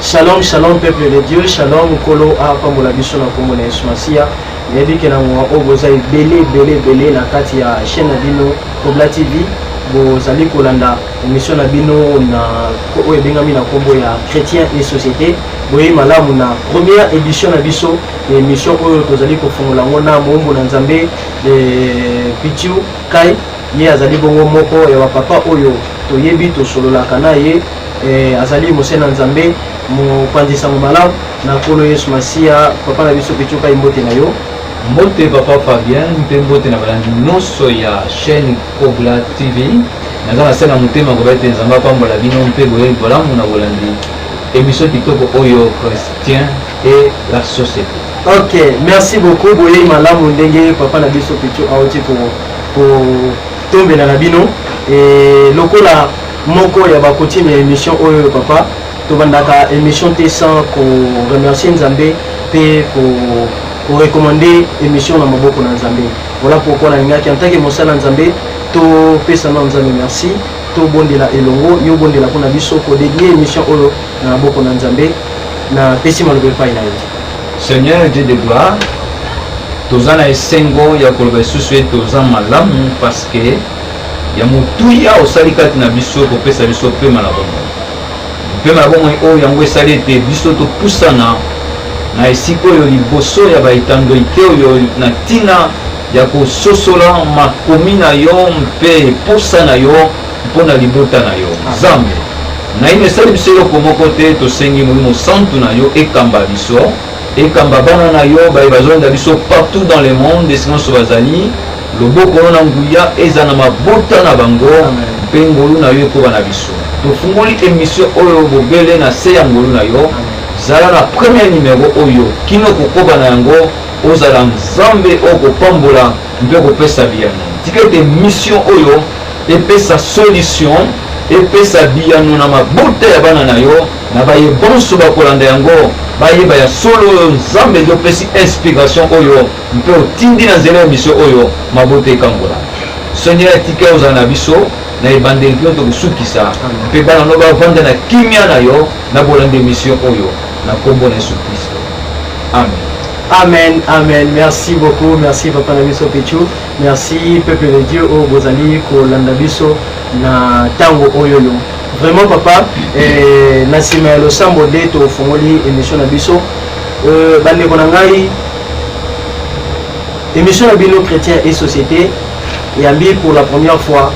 Shalom, shalom peuple de Dieu, shalom Nkolo apambola biso na kombo na Yesu Masiya. Nayebi ke na ngonga oyo boza ebele ebele ebele na kati ya chaîne na bino Kobla TV, bozali kolanda emission na bino na oyo ebengami na kombo ya Chrétien et Société. Boye malamu na première édition na biso ya émission oyo tozali kofungola yango na moombo na Nzambe eh, Pitiu Kai Ye azali bongo moko ya bapapa oyo toyebi, tosololaka na ye. Eh, azali mose na Nzambe, mopanzi sango malamu na Nkolo Yesu Masiya. Papa na biso Pichuka, imbote na yo. Mbote papa Fabien mpe mbote na balandi nyonso ya chaîne Kobla TV. Naza na se na motema koba ete Nzambe apambola bino mpe boyebi bolamu na bolandi emission kitoko oyo Christian et la société. Ok, merci beaucoup boyeyi malamu ndenge papa na biso Pichu auti ko kotombela na bino e, lokola moko ya bakotime ya émission oyo papa tobandaka émission te sans koremercie nzambe mpe ko korekomande émission na maboko na nzambe voilà pourquoi nalingaki en tant que mosala nzambe topesa na nzambe merci tobondela elongo yo obondela mpo na biso kodedie émission oyo na maboko na nzambe napesi maloba epai na yo Seigneur Dieu de gloire, toza na esengo ya koloba lisusu ete oza malamu paske ya motuya osali kati na biso kopesa biso mpema na bomoi mpema na bomoi oyo yango esali ete biso topusana na esika oyo liboso ya baetandoike oyo na ntina ya kososola makomi na yo mpe mposa na yo Mpo na libota na yo, Nzambe. Naino esali biso eloko moko te, tosengi Molimo Santu na yo ekamba biso, ekamba bana na yo baye bazolanda biso partout dans le monde, esika nyonso bazali, loboko no na nguya ezala na mabota na bango, mpe ngolu na yo ekoba na biso. Tofungoli emission oyo bobele na se ya ngolu na yo, zala na premier numero oyo kino kokoba na yango, ozala Nzambe oyo kopambola mpe kopesa biyano. Tika ete mission oyo Epesa solution, epesa biyano na mabota ya bana na yo, na baye banso bakolanda yango, bayeba ya solo oyo Nzambe nde opesi inspiration oyo mpe otindi na nzela ya emission oyo mabota ekangola. Seigneur, etika ozala na biso na ebandeli mpe tokosukisa mpe bana no bavanda na kimia na yo na bolanda emission oyo na nkombo na Yesu Kristo. Amen. Amen, amen. Merci beaucoup. Merci, Papa Namiso Pichou. Merci peuple de Dieu oyo bozali kolanda biso na tango oyo yo. Vraiment papa, eh, na sima ya losambo nde tofongoli emission na biso. Euh, bandeko na ngai émission na bino chrétien et société yambi pour la première fois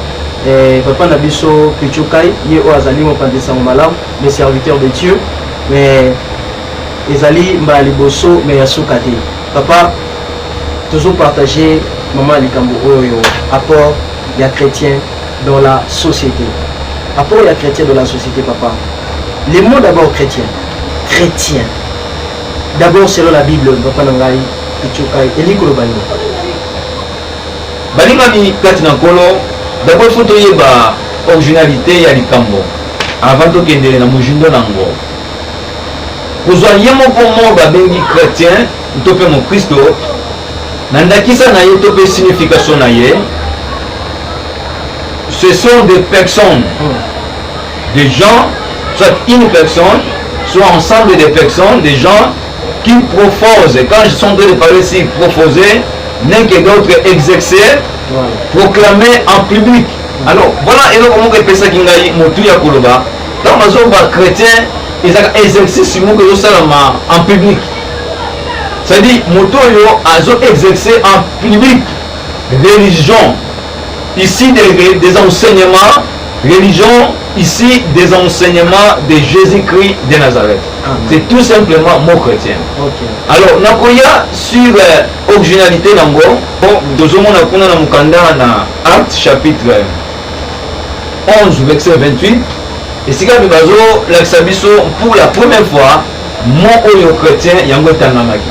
eh, papa na biso pichukai ye oyo azali mopanzi sango malamu le serviteur de dieu mais ezali mbala liboso mais ya suka te Papa, tozo partager maman likambo oyo apport ya chrétien dans la société. Apport ya chrétien dans la société, papa. Les mots d'abord chrétien. Chrétien. D'abord selon la Bible, papa na ngai echokai eliko loba nini? Balingami kati na nkolo, d'abord faut toyeba originalité ya likambo avant tokendele na mojindo na yango. kozwa ye moko moko babengi chretien to mpe mokristo na ndakisa na ye to mpe signification na ye ce sont des personnes des gens soit une personne soit ensemble des personnes des gens qui proposent quand je suis en train de parler ici proposer l'un que d'autre exercer proclamer en public alors voilà eloko moko epesaki ngai motu ya koloba ntango bazomba chrétien ezaka exercice moko ezosalama en public c'est-à-dire moto oyo azo exercer en public religion ici des, des enseignements religion ici des enseignements de Jésus-Christ de Nazareth c'est tout simplement mot chrétien okay. alors nakoya sur euh, originalité nango po tozomona kuna na mokanda na acte chapitre 11 verset 28 esika mpe bazolakisa biso pour la première fois mot oyo chrétien yango etangamaki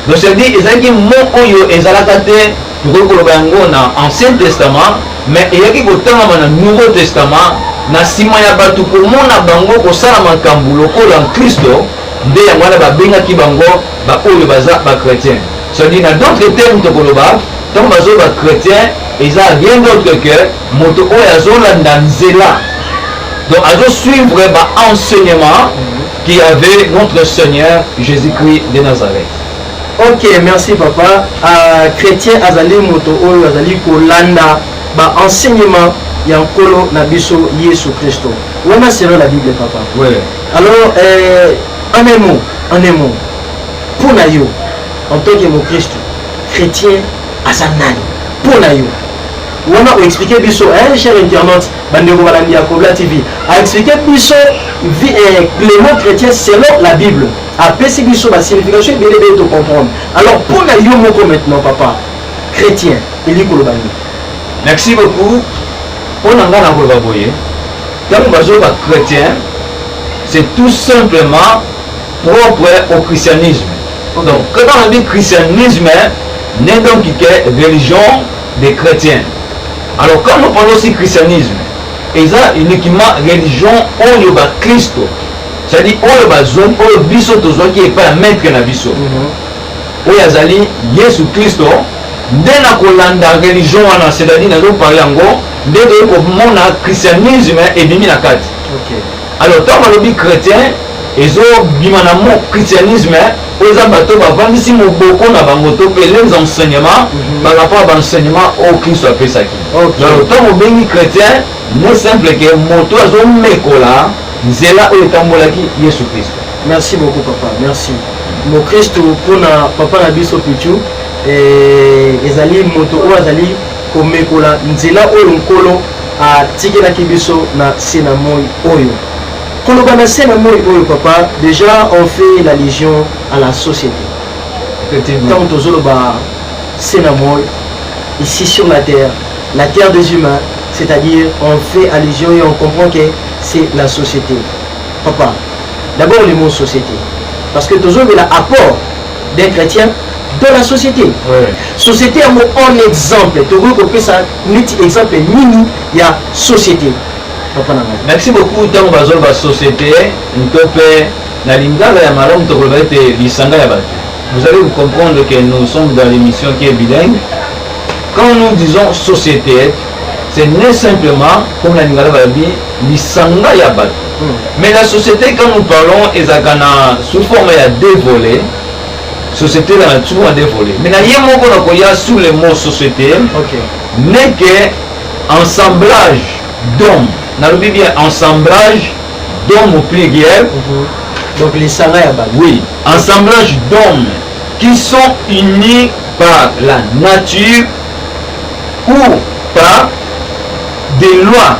donc cetadi ezalaki mot oyo ezalaka te tokoki koloba yango na ancien testament mais eyaki kotangama na nouveau testament na nsima ya bato komona bango kosala makambo lokola nkristo nde yango wana babengaki bango baoyo baza bachrétien cetadi na d'autres terme tokoloba Tango bazo ba chretien eza rien d'autre que moto oyo azolanda nzela donc azo suivre ba enseignement qui avait notre Seigneur Jésus-Christ de Nazareth. Ok, merci papa. Uh, chrétien azali moto oyo azali kolanda ba enseignement ya nkolo na biso Yesu Kristo. Wana selon la Bible papa. Oui. Alors euh, en un mot, en un mot. Pour na yo, En tant que mokristu, chrétien aza nani mpo na yo? wana oexplike biso eh, cher internaute bandeko balandi ya kobla tv aexplike biso eh, clement chrétien selon la bible apesi biso basignification ebele ebele tocomprendre alors mpo na yo moko maintenant papa chrétien elingi koloba nini merci beaucoup mpo na ngai nakoloba boye ntango bazoloba chrétien c'est tout simplement propre au christianisme okay. donc quand on dit christianisme n'est donc que religion des chrétiens alors quand nous parlons aussi christianisme eza uniquement religion oyo bakristo c'est-à-dire oyo bazwaki oyo biso tozwaki epai ya maître na biso mhm. oyo azali yesu kristo nde na kolanda religion wana c'est-à-dire nazoparle yango nde toyei komona christianisme ebimi na kati okay. Alors ntango balobi chrétien ezobima na mo christianisme oyo eza bato bavandisi moboko na bango to mpe les enseignement mhm. par rapport ya baenseignement oyo kristo apesaki donc ntango obengi chrétien ne simple ke moto azomekola nzela oyo etambolaki yesu kristo merci beaucoup papa merci mokristo mpona papa na biso pichu eh, ezali moto oyo azali komekola nzela oyo Nkolo atikelaki biso na se na moi oyo. Koloba na se na moi oyo, papa, deja on fait la legion à la société. Ntango tozoloba se na moi, ici sur la terre, la terre des humains, c'est-à-dire on fait allusion et on comprend que c'est la société. Papa, d'abord le mot société, parce que tozobela apport des chrétiens dans la société ouais. société yango en exemple tokoki kopesa neti exemple nini ya société papa na ngai merci beaucoup ntango bazoloba société nto mpe na lingala ya malamu tokoloba ete lisanga ya bato vous allez vous comprendre que nous sommes dans l'émission qui est bilingue quand nous disons société c'est ne simplement comme na lingala balobi lisanga ya bato hmm. mais la société quand nous parlons ezalaka na sous forme ya deux volets société la na souvent deux volets mais na ye moko nakoya sous le mot société okay. n'est que ensemblage d'hommes nalobi bien ensemblage d'hommes au pluriel mm -hmm. donc lisanga ya bato oui ensemblage d'hommes qui sont unis par la nature ou par des lois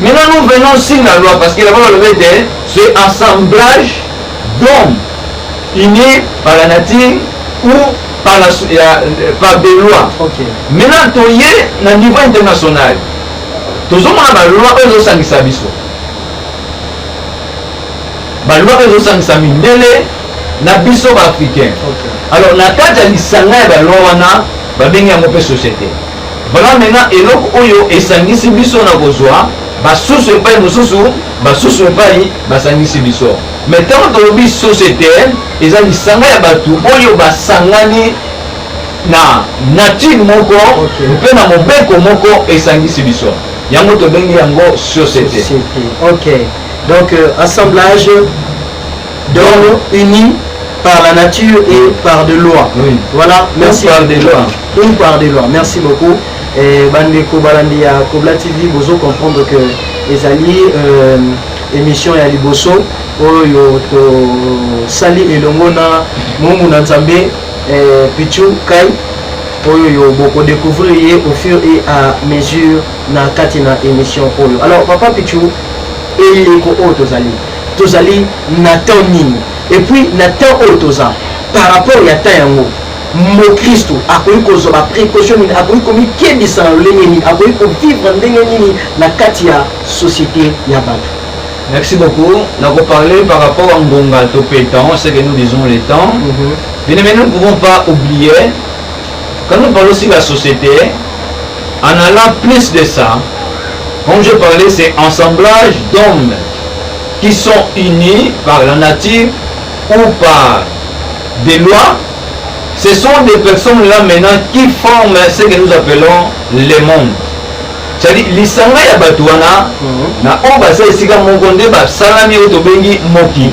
Maintenant nous venons sur la loi parce que là-bas on le dit, c'est assemblage d'hommes unis par la nature ou par, la, ya, par des lois. Okay. Maintenant toye na niveau international tozomona baloi oyo ezosangisa biso baloi oyo ezosangisa mindele na biso baafricain okay. alors na kati ya lisanga ya baloi wana babengi yango mpe société Voilà maintenant eloko oyo esangisi biso na kozwa basusu epai mosusu basusu epai basangisi biso mais ntango tolobi société eza lisanga ya bato oyo basangani na nature moko okay. mpe na mobeko moko esangisi biso yango tobengi yango société okay. donc euh, assemblage Donc unis par la nature et mm. par de loi. Oui. Voilà, merci. Par des lois. Une par des lois. Merci beaucoup. Et bandeko balandi ya Kobla TV bozo comprendre que ezali euh, émission ya liboso oyo to sali elongo na mumu na Nzambe euh, Pichu Kai oyo yo boko découvrir ye au fur et à mesure na kati na émission oyo. Alors papa Pichu eleko oyo tozali Tozali na temps nini? Et puis na temps oyo toza par rapport ya temps yango mokristu akoki kozwa ba precaution nini? Akoki komikebisa na lolenge nini? Akoki kovivre ndenge nini na kati ya societe ya bato? Merci beaucoup. Donc, on parlait par rapport à Ngonga, Topé, temps, ce que nous disons les temps. Mm -hmm. Bien, mais nous ne pouvons pas oublier Quand nous parlons sur la société, en allant plus de ça, comme je parlais, c'est assemblage d'hommes qui sont unis par la nature ou par des lois. Ce sont des personnes-là maintenant qui forment ce que nous appelons le monde. C'est-à-dire, lisanga ya bato wana mhm. na oyo baza esika moko nde basalami oyo tobengi mokili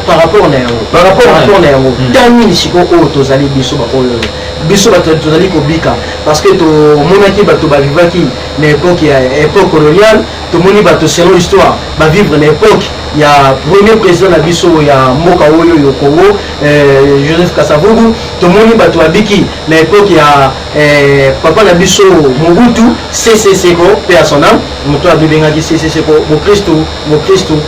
par rapport na yango par rapport na yango hmm. temps nini sikoyo oyo tozali biso baoyo biso bato tozali kobika parce que tomonaki bato bavivaki na époque ya époque coloniale tomoni bato selon histoire bavivre na époque ya premier président na biso ya mboka oyo yo congo euh, joseph kasavubu tomoni bato babiki na époque ya euh, papa na biso mobutu ccco mpe ya son ame moto abebengaki ccco bokristu bokristu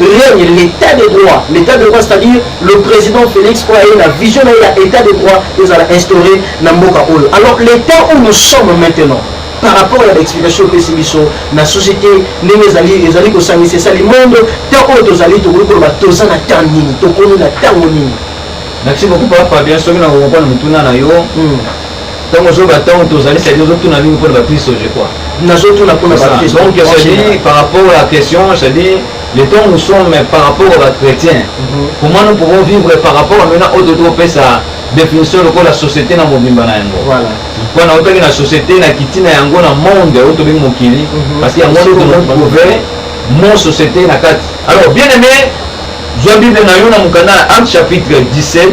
règne l'état de droit l'état de droit c'est-à-dire le président Félix oyo aye na vision na ye ya état de droit ezala instauré na mboka oyo alors l'état où nous sommes maintenant par rapport ya baexplication opesi biso na société ndenge ezali ezali kosangisa esali mondo temps oyo tozali tokoki koloba toza na temps nini tokomi na ntango nini merci beaucoup papa fabien soki na kokokona mituna na yo Donc ozoba ntango tozali sadi ozotuna nini mpo na bakristo je crois nazotuna mpo na bakristo donc cedi par rapport à la question cedi le temps nous sommes par rapport à bachrétien mhm. comment nous pouvons vivre par rapport à maintenant oyo toti kopesa définition lokola société na mobimba na yango mpo na otaki na société na kiti na yango na monde oyo tobengi mokili mhm. parce que yango nde tokontrouve mon société na kati alors bien aimé zwa bible na yo na mokanda ya acte chapitre 17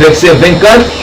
verset 24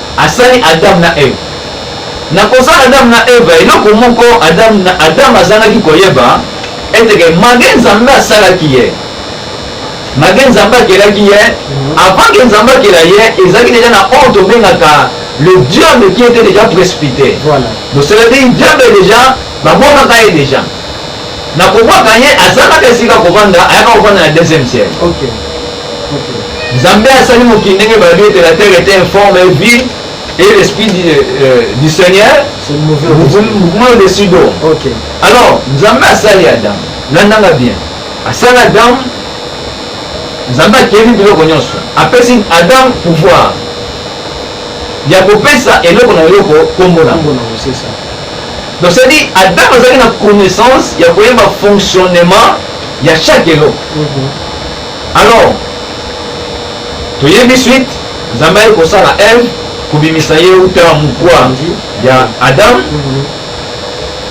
Asali Adam na Eva. Na kosala Adam na Eva, eloko moko Adam, Adam azangaki koyeba ete ke mage Nzambe asalaki ye mage Nzambe akelaki ye avant ke Nzambe akela ye ezalaki deja na oyo tobengaka le diable qui était déjà précipité. Voilà. Donc c'est-à-dire diable déjà bamonaka ye déjà Na comprends quand ye azangaka esika kovanda ayaka kovanda na deuxième ciel. OK. OK. Nzambe asali mokili ndenge balobi ete la terre était informe et vide et l'esprit du, euh, euh du Seigneur se mouvait au-dessus d'eau. OK. Alors, Nzambe asali Adam. Landanga bien. Asali Adam. Nzambe akeli biloko nyonso. Apesi Adam pouvoir ya kopesa eloko na eloko kombo na yango. Donc c'est dit Adam azalaki na connaissance ya koyeba fonctionnement ya chaque eloko. Mhm. Alors toyebi suite Nzambe aye kosala Ève kobimisa ye uta mokwa ya Adam mhm.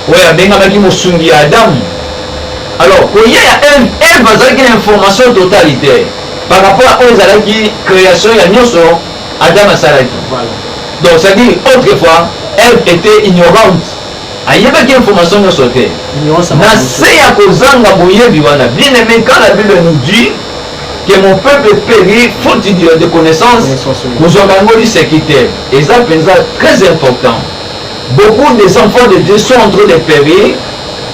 oyo abengamaki mosungi ya Adam. Alors koya ya Ève, Ève azalaki na information totalitaire par rapport à oyo ezalaki création ya nyonso Adam asalaki. Donc ça dit autrefois Ève était ignorante. ayebaki information nyonso te na se ya kozanga boyebi wana bien aimé quand la bible nous dit que mon peuple périt faute de connaissance kozwaka yango liseki te eza mpenza très important beaucoup des enfants de dieu sont en train de périr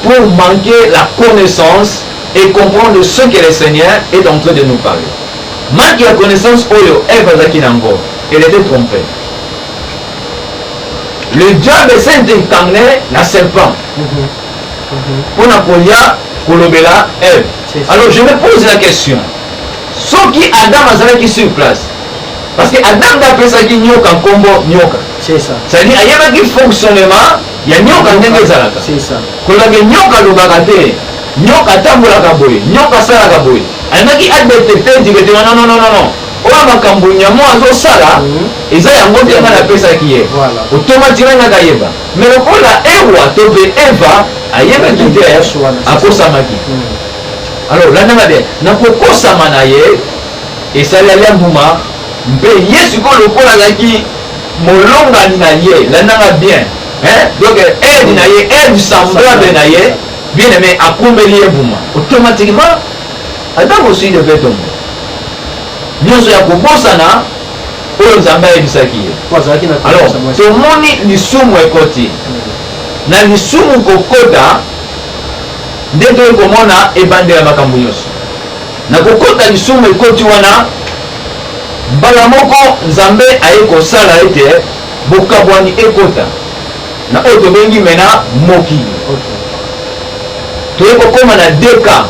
pour manquer la connaissance et comprendre ce que le Seigneur est en train de nous parler. Manque ya connaissance oyo Eve azalaki na yango, elle était trompée. Le diable s'est incarné na serpent mpo na koya kolobela Eve. Alors je me pose la question, soki Adam azalaki sur place, parce que Adam nde apesaki nyoka nkombo nyoka, c'est-à-dire ayebaki fonctionnement ya nyoka ndenge ezalaka kolage nyoka alobaka te nyoka atambolaka boye nyoka asalaka boye alingaki adepte mpe dikete wana nononono oyo makambo nyamo azosala mhm. eza yango nde ngai napesaki ye otomatikali ngai kayeba me lokola ewa to mpe eva ayebaki te akosamaki mhm. alors landanga bien na kokosama na ye esali alia mbuma Mpe ye sikoyo lokola azalaki molongani na ye, landanga bien hein, donc aide na ye, aide semblable na ye, bien aime akumbeli ye mbuma, automatiquement aza mosui de fait tombe nyonso ya kobosana oyo nzambe ayebisaki ye alors tomoni lisumu ekoti na lisumu kokota nde toyei komona ebandela makambo nyonso Na kokota lisumu ekoti wana, mbala moko Nzambe aye kosala ete bokabwani ekota na oyo tobengi mena mokili. Toye kokoma na deka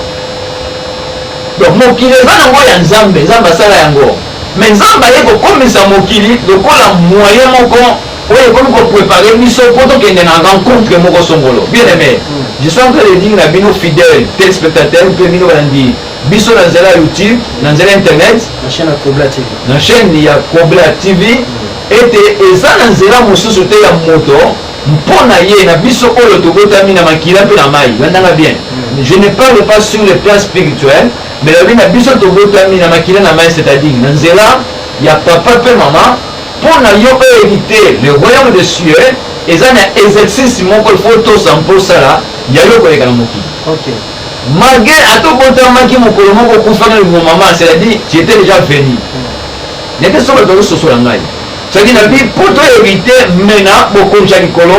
donc mokili eza nango ya Nzambe, Nzambe asala yango, mais Nzambe aye kokomisa mokili lokola moyen moko oyo ekomi ko preparer biso po tokende na rencontre moko songolo bien aimé je suis en train de dire na bino fidèle telespectateur mpe bino balandi biso na nzela ya youtube na nzela internet na chaîne ya kobla tv ete eza na nzela mosusu te ya moto mpo na ye na biso oyo tobotami na makila mpe na mai landanga bien mm. je ne parle pas sur le plan spirituel mais lobi na biso tobotami na makila na mai c'est-à-dire na nzela ya papa mpe mama Mpo na yo o heriter le royaume des cieux, eza na exercice moko il faut tosa mpo osala ya yo koleka na mokili. Okay. Malgré ata obotamaki mokolo moko okufa na lingo mama, c'est-à-dire tu étais déjà venu. Hmm. Nete soki bato bazososola ngai. C'est-à-dire na bi mpo to heriter mena bokonzi ya likolo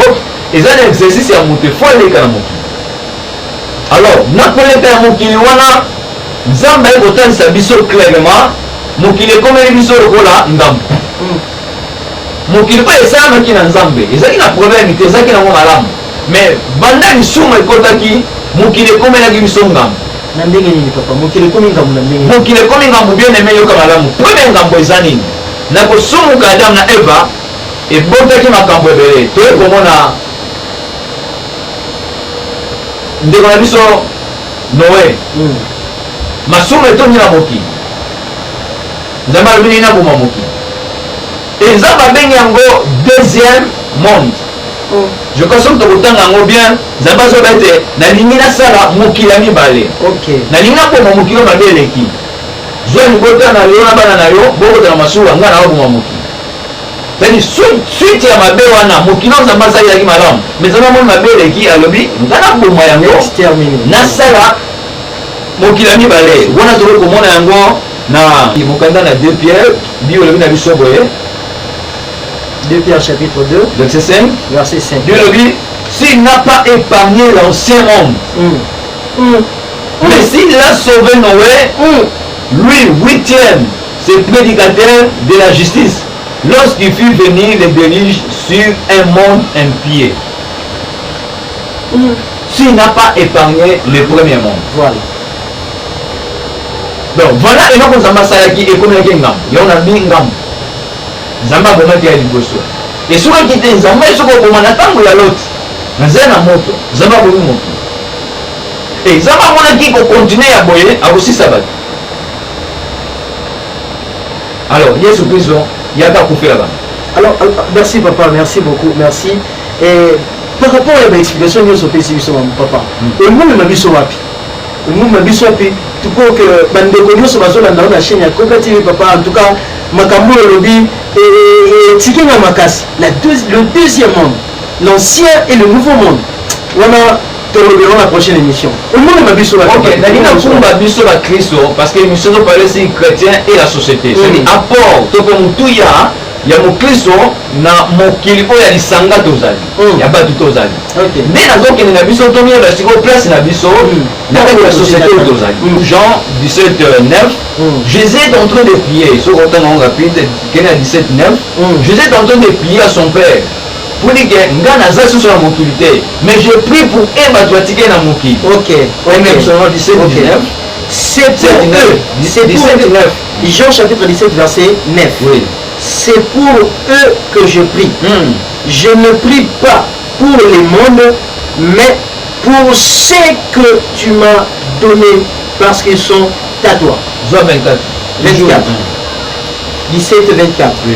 eza na exercice ya moto il faut eleka na mokili. Alors, na koleka ya mokili wana, Nzambe aye kotalisa biso clairement, mokili ekomeli biso lokola ndambo. Hmm. Mokili oyo esalamaki na Nzambe, ezalaki na problème te, ezalaki nango malamu. Mais banda lisumu ekotaki, mokili ekomelaki biso ngambo. Na ndenge nini papa? Mokili ekomi ngambo na ndenge. Mokili ekomi ngambo bien aimé yoka malamu. Premier ngambo eza nini? Na kosumuka Adam na Eva ebotaki makambo ebele. Toye komona ndeko na biso noe hmm. masumu etondi na mokili nzambe alobi nini aboma mokili eza babengi yango deuxième monde hmm. je crois soki tokotanga yango bien nzambe azoba ete nalingi nasala mokili ya mibale nalingi nakoma mokili mabe eleki zwa libota na yo na bana na yo bokota na masuwa ngai naoboma mokili Sani suite ya mabe wana mokili oyo nzambe asalelaki malamu mais nzambe amoni mabe eleki alobi nga naboma yango nasala mokili ya mibale wana tokoki komona yango na mokanda na deux pierre biyo olobi na biso boye 2 Pierre chapitre 2, verset 5. Verset 5. Dieu le dit, s'il n'a pas épargné l'ancien homme, mm. Mm. mais s'il a sauvé Noé, mm. lui, huitième, Ce predicateur de la justice lorsqu'il fut venu le deluge sur un monde impie s'il n'a pas épargné le premier monde voilà donc voilà eloko nzambe asalaki ekomelaki ngambo yango na bi ngambo nzambe abomaki ya liboso esukaki te nzambe soki oboma na ntango ya loti na zai na moto nzambe abomi moto e nzambe amonaki kokontinue ya boye akosisa bato alors yesu kristo yaka akufela bango alors euh, merci papa merci beaucoup merci et par rapport ya baexplication nyonso opesi biso mamu papa emomema hmm. biso wapi emomema biso wapi tupo ke bandeko nyonso bazolanda yo na chaîne ya coca tv papa en tout cas makambo oyo olobi etiki nga makasi le deuxième monde l'ancien et le nouveau monde wana tolobela yango na prochaine émission omona na biso nali nakumba biso bakristo parce que émission topalesi chrétien et la société soki mm. apport to mpe motuya ya mokristo na mokili oyo ya lisanga tozali mm. ya bato tozali nde nazokende na biso tomiyola sikoyo place na biso mm. na kati ya société oyo tozali jean 17 9 jésus est en train de prier soki otanga yango rapide kende ya 17 9 jésus est en train de prier à son père pour dire que nga naza susu na mokili te mais je prie pour e bato batike na mokili okay, okay. même selon 17 okay. 19 c'est pour eux c'est pour 17 9 Jean chapitre 17 verset 9 oui. c'est pour eux que je prie mm. je ne prie pas pour les mondes mais pour ce que tu m'as donné parce qu'ils sont à toi Jean 24 24 17 24 oui.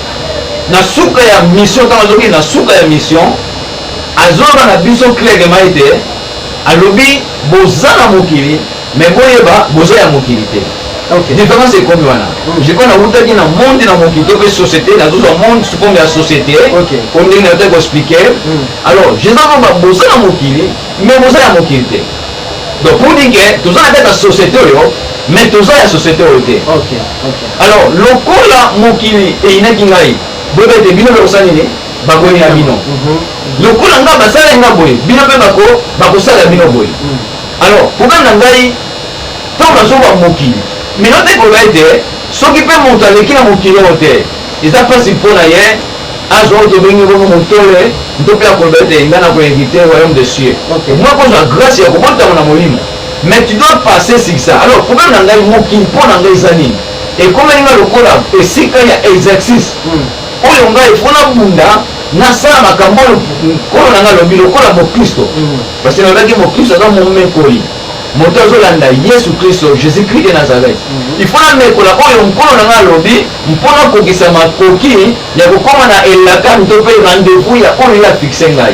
na suka ya mission ntango azokende na suka ya mission azoloba na biso clairement ete alobi boza na mokili me boyeba boza ya mokili te okay. différence ekomi wana mm. jeko nawutaki na monde na mokili to mpe société nazozwa monde sukomi ya société po ndenge nayote koexplike mm. alors jésus aloba boza na mokili me boza ya mokili te donc pour dire ke toza na kati ya société oyo me toza ya société oyo te Alors, lokola mokili eyinaki ngai, boyeba ete bino mpe kosala nini? Bakoyina bino. Mhm. Lokola ngai basalaki ngai boye, bino mpe bakosala bino boye. Mhm. Alors, problème na ngai, ntango nazoba mokili, mino te koloba ete soki mpe moto aleki na mokili oyo te, eza mpasi mpo na ye azwa oyo tobengi bongo motole nto mpe akoloba ete ngai nakoinvite royaume de cieux mwa kozwa grâce ya kobotama na molimo Mais tu dois passer sur ça. Alors problème na ngai moki mpo na ngai eza nini? Ekomeli ngai lokola esika ya exercice. Hmm. Oyo ngai mpo nabunda nasala makambo oyo nkolo na ngai alobi lokola mokristo. Hmm. Parce que nalobaki mokristo aza momekoli. moto azolanda yesu kristo jésus christ de nazareth mhm. ifo namekola oyo nkolo na ngai alobi mpo nakokisa makoki ya kokóma na elaka mpe rendez-vous ya oyo ye afixe ngai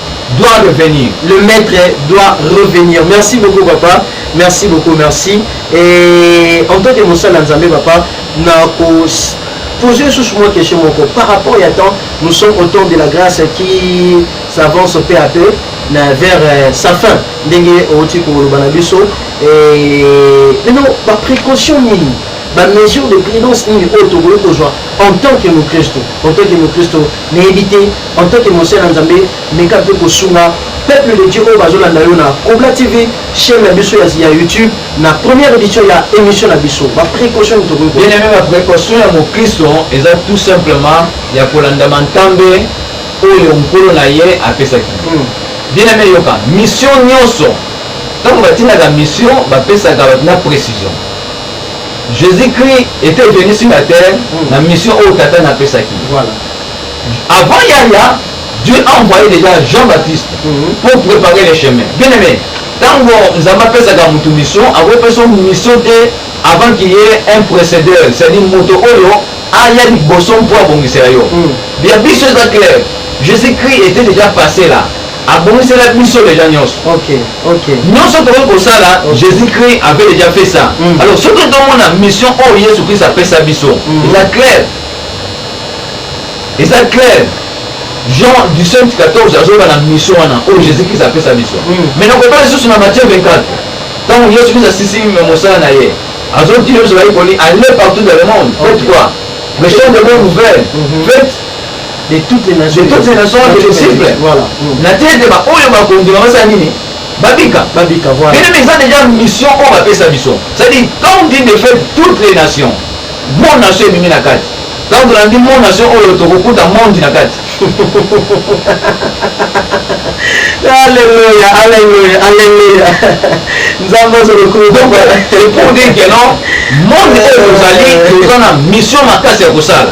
doit revenir le maître doit revenir merci beaucoup papa merci beaucoup merci et en tant que mosala ya nzambe papa na ko poser lisusu mwa question moko par rapport ya temps nous sommes au temps de la grâce qui s'avance peu à peu na vers euh, sa fin ndenge outi koloba na biso maintenant baprécaution nini bamesure de prudence nini oyo tokoki kozwa en tant que mokristo en tant que mokristo Nayebi te en tant que mosali na Nzambe meka pe kosunga peuple de Dieu oyo bazolanda yo na Kobla TV chaine na biso ya YouTube na première edition ya emission na biso ba precaution nini tokoki bien aimé ba precaution ya mokristo eza tout simplement ya kolanda mantambe oyo nkolo na ye apesaki hmm. bien aimé yoka mission nyonso ntango batindaka mission bapesaka na précision Jesus Christ etait venu sur la terre mm. na mission oyo tata na pesaki. Voilà. Avant Yaya, Dieu a envoyé déjà Jean-Baptiste mm -hmm. pour préparer les chemins. Bien aimé, ntango nzambe apesaka motu mission akopesa mission te avant qu'il y ait un précédeur c'est-à-dire moto oyo aya liboso mpo abongisela yo bia biso eza clair jésus christ était déjà passé là abongisela biso deja nyonso okay, okay. nyonso tokoki kosala okay. jésus christ avait déjà fait ça mm. alors soki tomona mission oyo oh, yesu christ apesa biso mm. eza claire eza claire jean du saint 14 azoba na mission wana oyo oh, jésus christ apesa biso mm. mais nakobala lisusu na matthieu 24 ntango yesu christ asisi mosala na ye azotinda biso bayekoli aller partout dans le monde faites quoi prêchons de bonne nouvelle mm-hmm. faites de toutes les nations de toutes les nations de disciples voilà na te ete baoyo bakondima basala nini babika babika voilà mais eza déjà mission oyo bapesa biso c'est-à-dire quand on dit de fait toutes les nations mon nation ebimi na kati quand on dit mon nation oyo tokokuta monde na kati Alléluia, Alléluia, Alléluia. Nous avons le coup. Donc, c'est pour dire que non, monde oyo tozali toza na mission makasi ya kosala